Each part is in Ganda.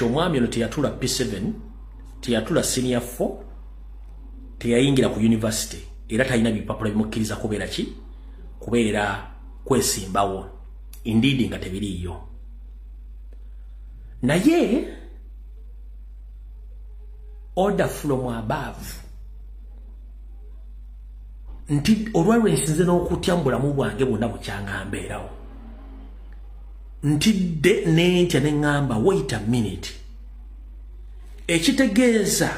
omwami ono teyatula p7 teyatula senior 4 teyayingira ku university era talina bipapula bimukkiriza kubeera ki kubeera kwesimbawo indiidi nga tebiriiyo naye order from above nti olwalwensinze n'okutya mu bulamu bwange bwonna bukyanga mbeerawo ntidde nentya neŋŋamba wait a minute ekitegeeza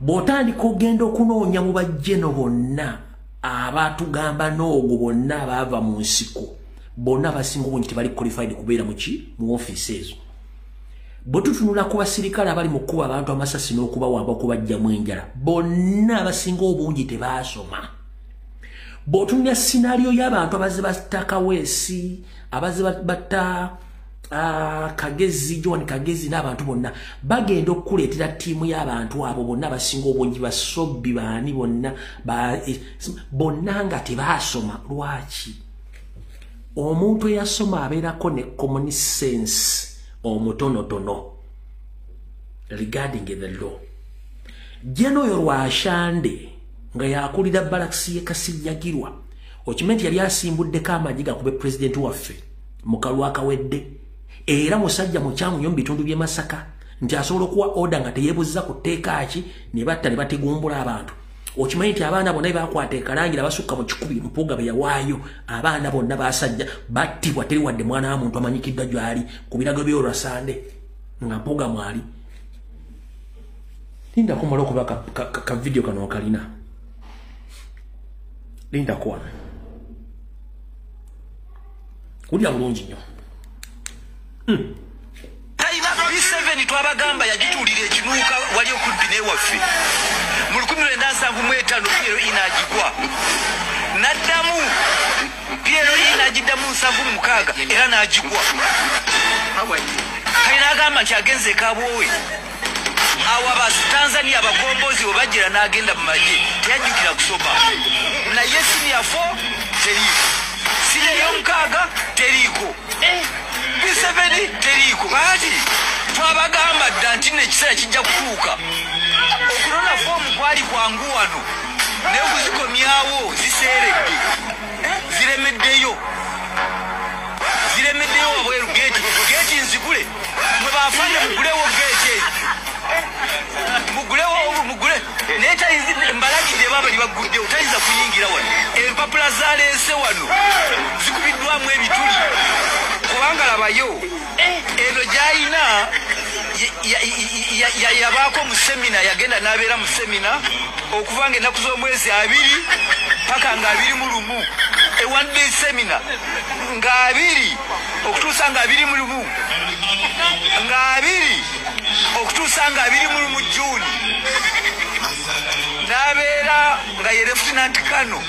bw'otandika ogenda okunoonya mu bajjeno bonna abatugamba n'ogwo bonna abaava mu nsiko bonna abasinga obungi tebali qualified kubeera muki mu ofiisi ezo bwe tutunula ku basirikale abali mu kkuba abantu amasasi n'okubawamba okubajjamu enjala bonna abasinga obungi tebaasoma bw'otunulya sinaaliyo y'abantu abazze batta kaweesi abazze batta ah, kagezi john kagezi n'abantu bonna bagenda okukuleetera ttiimu y'abantu abo bonna abasinga obungi basobbi baani bonna eh, bonna nga tebaasoma lwaki omuntu eyasoma abeerako ne common sense omutonotono regarding the law jeno oyo lwashande nga yakulira balakisi ye kasinyagirwa okimanyi nti yali asimbuddeko amaanyi gakube pulezidenti waffe mukalwa akawedde era musajja mukyamu nyo mu bitundu by'e masaka nti asobola okuwa oda nga teyebuziza ku tteeka ki ne batta ne bategumbula abantu okimanyi nti abaana bonna bebakwata ekalangira basukka mu kikubi mpuuga be yawaayo abaana bonna basajja battibwa teri wadde mwana wa muntu amanyikiddwa gyali ku birago by'olwasande nga mpuuga mwali linda kumala okuba ka, ka, ka, ka video kano okalina linda kuwa kulya bulungi nnyo hmm. museveni twabagamba yagituulira ekinuuka wali okubbi newaffe mu 1975 piero inagigwa naddamu piero inagiddamu nsanvu mumukaaga era nagigwa kale nagamba nti agenze ekabwowe awa batanzania abagombozi webajira nagenda mumaje teyajjukira kusoma naye sinia 4 teriiko sinia yomukaaga teriiko biseveni teriiko baati twabagamba dda nti nekiseera kijja kutuuka okunona foomu kwali kwangu wano naye okuzikomyawo ziseeredde ziremeddeyo ziremeddeyo wabweru geti geti nzigule mwebafande mugulewo gege mugulewo mugule naye tayizi mbalagidde baba libagguddewo tayinza kuyingira wano empapula zaleese wano zikubiddwamu ebituli kubanga labayo eno gyayina yayabaako mu semina yagenda n'abeera mu semina okuva nga ennaku z'omwezi abiri paka nga abiri mu lumu ewadde semina nga abiri okutuusa nga abiri mu lumu nga abiri okutuusa nga abiri mu lumu juuni n'abeera nga ye lefutinanti kano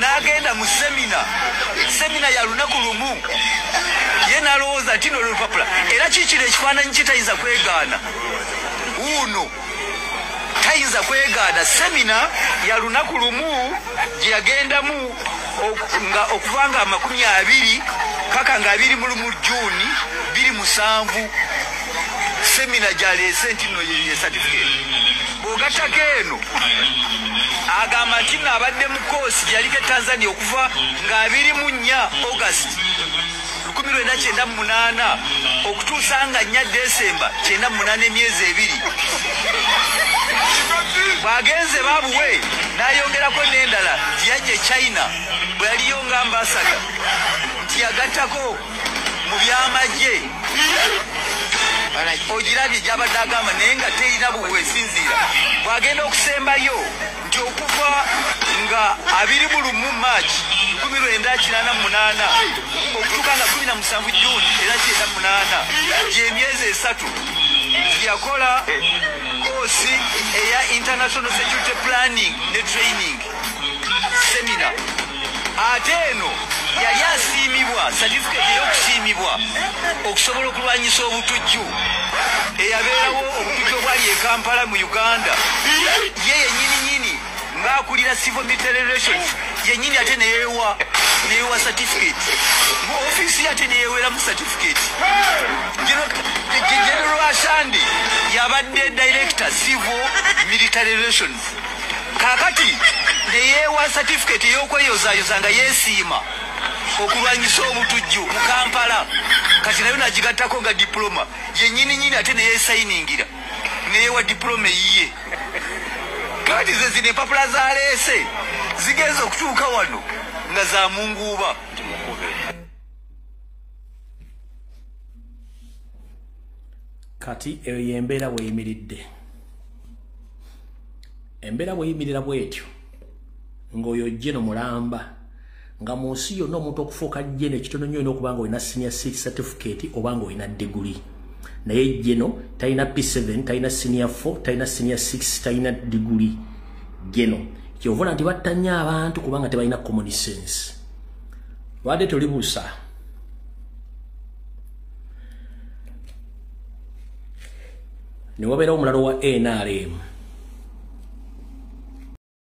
n'agenda mu semina semina ya lunaku lumu ye n'alowooza nti nolulupapula era kikino ekifaananyi kitayinza kwegaana wuuno tayinza kwegaana semina ya lunaku lumu gye yagendamu nga okuva nga amakumi abiri paka nga abiri mulu mu juuni biri musanvu semina gyaleese nti no ye satifiketi bwogattako eno agamba nti no abadde mu koosi gyaliko e tanzania okuva nga abiri mu nnya august lukumi lwenda kyenda mu munaana okutuusa nga nnya desemba kyenda mu munaana emyezi ebiri bw'agenze baabuwe n'ayongerako n'endala yajja e china bwe yaliyo nga ambasada nti yagattako mu by'amagye ogirabye gy'abadde agamba naye nga terina bwesinziira bw'agenda okusembayo nti okuva nga abiri mu lumu march lukumi lwenda kinaana munaana okutuuka nga kumi na musanvu juni era kyenda munaana gyemyezi esatu yakola koosi eya international security planning ne training semina ate eno yali asiimibwa satifikeeti ey'okusiimibwa okusobola okulwanyisa obutujju eyabeerawo obutujju obwali e kampala mu uganda ye yenyini nyini ng'akulira civil military relations yenyini ate neyewa neyewa satifikeeti mu ofiisi ye ate neyeweramu satifikeeti general ashandi yabadde director civil military relations kakati neyeewa satifiketi ey'okweyozayoza nga yeesiima okulwanyisa obutujju mu kampala kati nayo nagigattako nga dipuloma yenyini nyini ate neyesayiningira neyewa dipuloma eyiye kati ze zino empapula zaleese zigenza okutuuka wano nga za munguuba kati eyo yembeera weyimiridde embeera bweyimirira bwetyo ngaoyo ojje no mulamba nga mu nsi yonna omuntu okufuuka jeno ekitono nyo olina okuba nga olina senior six certificate oba nga olina diguli naye jeno talina p7 talina senior 4 talina senior 6 talina diguli jeno kyovula nti battanya abantu kubanga tebalina common sense lwade tolibuusa ne wabeerawo omulalo wa nrm